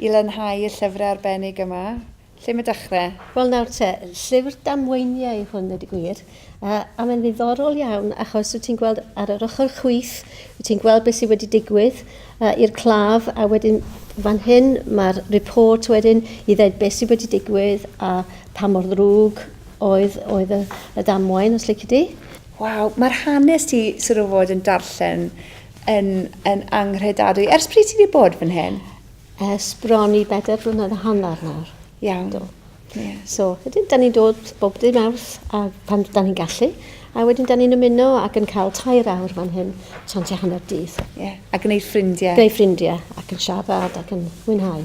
I lanhau y llyfrau arbennig yma, lle mae dechrau? Wel nawr te, llyfr damweiniau yw hwn ddweud y gwir, a mae'n ddiddorol iawn achos wyt ti'n gweld ar yr ochr chwith, wyt ti'n gweld beth sydd wedi digwydd i'r claf a wedyn fan hyn mae'r report wedyn i ddweud beth sydd wedi digwydd a pa mor ddrwg oedd, oedd y, y damwain os lici di. Waw, mae'r hanes ti sort of fod yn darllen yn, yn anghredadwy. Ers pryd ti wedi bod fan hyn? Ers bron i bedair blynedd a hanner nawr. Iawn. Do. Yeah. So, wedyn, da ni'n dod bob dim awrth a pan da ni'n gallu. A wedyn, da ni'n ymuno ac yn cael tair awr fan hyn, tra'n ti hanner dydd. Yeah. A gwneud ffrindiau. Gwneud ffrindiau ac yn siarad ac yn mwynhau.